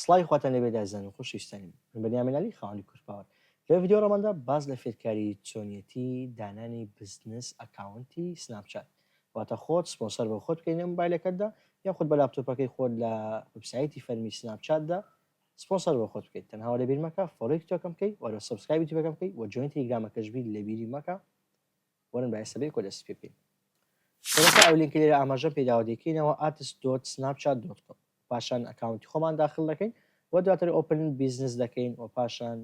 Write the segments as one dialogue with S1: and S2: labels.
S1: سڵاوی خواتان لێ بێت ئازیزان و خۆشەویستانیم من بەنیامین عەلی خاوەنی کورد پاوەر لەم ڤیدیۆ ڕەماندا باس لە فێرکاری چۆنیەتی دانانی بزنس ئەکاونتی سناپ چات واتە خۆت سپۆنسەر بۆ خۆت بکەی لە مۆبایلەکەتدا یان خۆت بە لاپتۆپەکەی خۆت لە وبسایتی فەرمی سناپ چاتدا سپۆنسەر بۆ خۆت بکەیت تەنها لەبیر مەکە فۆلۆی تۆکەم بکەی وەرە سبسکرایبی تیبەکەم بکەی و جوین تیلیگرامەکەش بی لەبیری مەکە وەرن با ئێستا بیر کۆدە سپی بکەین سەرەتا ئەو لینکە لێرە ئاماژەم پێداوە دەکەینەوە ئاتس دۆت سناپ چات دۆت کۆم پاشان ئەکاونتی خۆمان داخل دەکەین و دواتر ئۆپن بیزنس دەکەین و پاشان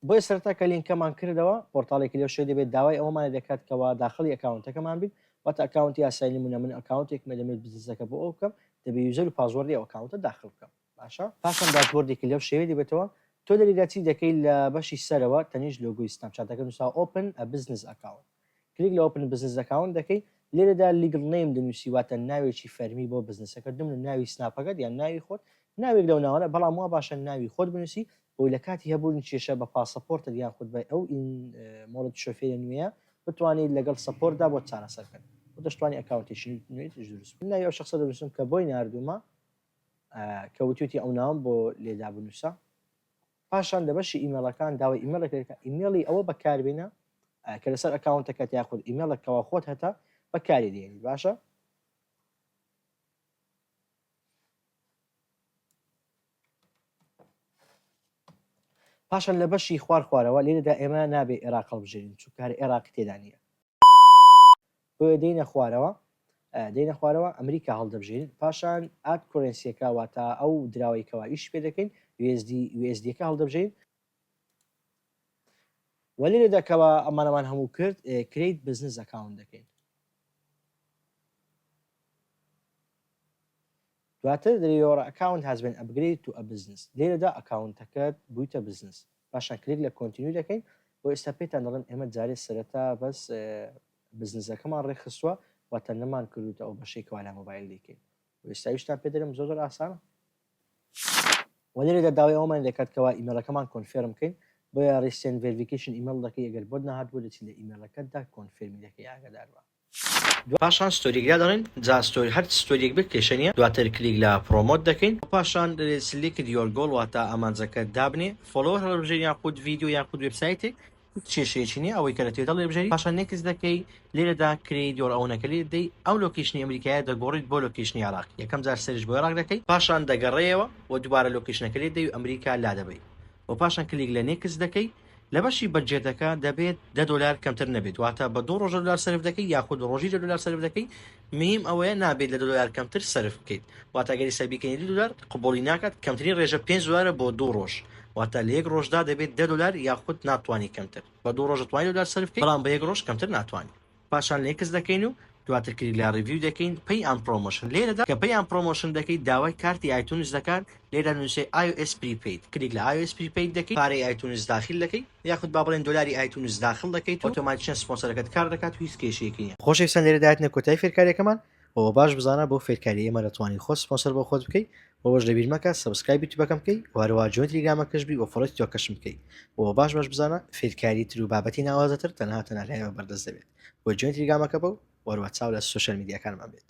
S1: بۆیە سەرتا کە لینکەمان کردەوە پۆرتالێکی لەو شوێ دەبێت داوای ئەوەمانە دەکات کەەوە داخلی ئەکاونتەکەمان بین واتە ئەکاونتی یاسای نمونە من ئەکاونتێکمە دەمێت بزنسەکە بۆ ئەو بکەم دەبێ یوزەر و پازوەردی ئەوکاونتە داخل بکەم باشە پاشان داشبۆردێکی لەو شێوەیە دەبێتەوە تۆ لەریدا چی دەکەی لە بەشی سەرەوە تەنیشت لۆگۆی سناپ چاتەکە نوساوە ئۆپن ئە بزنس ئەکاونت کلیک لە ئۆپن بزنس ئەکاونت دەکەی لێرەدا لیگڵ نەیم دەنوسی واتە ناوێکی فەرمی بۆ بزنسەکەت بمنە ناوی سناپەکەت یان ناوی خۆت ناوێک لەو ناوانە بەڵام وا باشە ناوی خۆت بنوسی بۆی لە کاتی هەبوون کێشە بە پاسەپۆرتت یان خود بە ئەو ئین مۆڵەت شۆفێرە نوێیە بتوانیت لەگەڵ سەپۆرتدا بۆت چارەسەر کەن و دەشتوانی ئەکاونتێکی نوێ دروست بکەی ناوی ئەو شەخسە دەنوسم کە بۆی ناردومە کە وتویتی ئەو ناوەم بۆ لێدا بنووسە پاشان لە بەشی ئیمێڵەکان داوای ئیمێڵێک لێ بکە ئیمێڵی ئەوە بەکاربێنە کە لەسەر ئەکاونتەکەت یاخود ئیمێڵێک کەوا خۆت هەتە بەکاری دێنی باشە پاشان لە بەشی خوار خوارەوە لێرەدا ئێمە نابێ عێراق هەڵبژێرین چونکە هەر عێراقی تێدا نییە بۆیە دێینە خوارەوە دێینە خوارەوە ئەمریکا هەڵدەبژێرین پاشان ئات کۆرێنسیەکە واتا ئەو دراوەی کەوا ئیش پێ دەکەین USD USD ەکە هەڵدەبژێرین وەلی لێدا کەوا ئەمانەمان هەموو کرد کریت بزنس ئەکاون دەکەین دواتر لە یۆرە ئەکاونت هەزبێن ئەپگرەیدت و ئەبزنس لێرەدا ئەکاونتەکەت بویتە بزنس پاشان کلیک لە کۆنتینیو دەکەین بۆ ئێستا پێتان دەڵێم ئێمە جارێ سەرەتا بەس بزنسەکەمان ڕێکخستوە واتە نەمان کردوتە ئەو بەشەی کەوا لە مۆبایل دەیکەین و ئێستا ویشتان پێ دەرم زۆر زۆر ئاسانە وە لێرەدا داوای ئەومان دەکات کەوا ئیمێلەکەمان کۆنفێرم بکەین بۆیە ڕیسێن ڤێریفیکیشن ئیمێل دەکەی ئەگەر بۆت نەهاتبوو دەچی لە ئیمێلەکەتدا کۆنفێرمی دەکەی ئاگاداربە پاشان ستۆریک لا دەڵێین جا ستۆری هەر ستۆریک بێت کێشە نیە دواتر کلیک لە پڕۆمۆت دەکەین و پاشان دەلێ سلیکت یۆر گۆڵ واتە ئامانجەکەت دابنێ فۆڵۆوەر هەڵبژێر یاخود ڤیدیۆ یاخود وێبسایتێک هیچ کێشەیەکی نیە ئەوەی کە لە توێتە هەڵێبژێری پاشان نێکست دەکەی لێرەدا کرێیت یۆر ئەونەکە لێ دەی ئەو لۆکیشنی ئەمریکایە دەگۆڕیت بۆ لۆکیشنی عێراق یەکەم جار سەرش بۆ عێراق دەکەی پاشان دەگەڕێیەوە و دوبارە لۆکیشنەکە لێ دەی و ئەمریکا لا دەبەی و پاشان کلیک لە Next دەکەی، لە بەشی بەجێتەکە دەبێت دە دۆلار کەمتر نەبێت واتە بە دوو ڕۆژە دۆلار سەرف دەکەی یاخود ڕۆژی دە دۆلار سەرف دەکەی میم ئەوەیە نابێت لە دە دۆلار کەمتر سەرف بکەیت واتە گەری سەربیکەنی دو دۆلار قبولی ناکات کەمترین ڕێژە پێنج دۆلارە بۆ دوو ڕۆژ واتە لە یەک ڕۆژدا دەبێت دە دۆلار یاخود ناتوانانی کەمتر بە دوو ڕۆژە توانی دۆلار سەرف بکەیت بەڵام بە یەک ڕۆژ کەمتر ناتوانانی پاشان لێکس دەکەین و دواتر کلیک لە ڕیڤیو دەکەین پەی ئان پڕۆمۆشن لێرەدا کە پەی ئان پڕۆمۆشن دەکەیت داوای کارتی ئایتونس دەکات لێرە نوسێ ئای ئۆ ئێس پریپەید کلیک لە ئای ئۆ ئێس پریپەید دەکەیت پارەی ئایتونس داخیل دەکەی یاخود با بڵێن دۆلاری ئایتونس داخڵ دەکەیت و ئۆتۆماتیکیان سپۆنسەرەکەت کار دەکات و هیچ کێشەیەکی نیە. خۆشەویستان لێرەدا هاتینە کۆتایی فێرکاریەکەمان و باش بزانە بەو فێرکاریە ئێمە دەتوانی خۆت سپۆنسەر بۆ خۆت بکەی وەوەش لەبیر مەکە سەبسکرایب یوتیوبەکەم بکەی و هەروە جوێن تلیگرامەکەش بی و فۆڵۆی تیتۆکەشم بکەی و باش باش بزانە فێرکاری تر و بابەتی ناوازەتر تەنها تەنها لایەوە بەردەست دەبێت و جوێن تلیگرامەکە بە و وەروە چاو لە سۆشیال میدیاکانمان بێت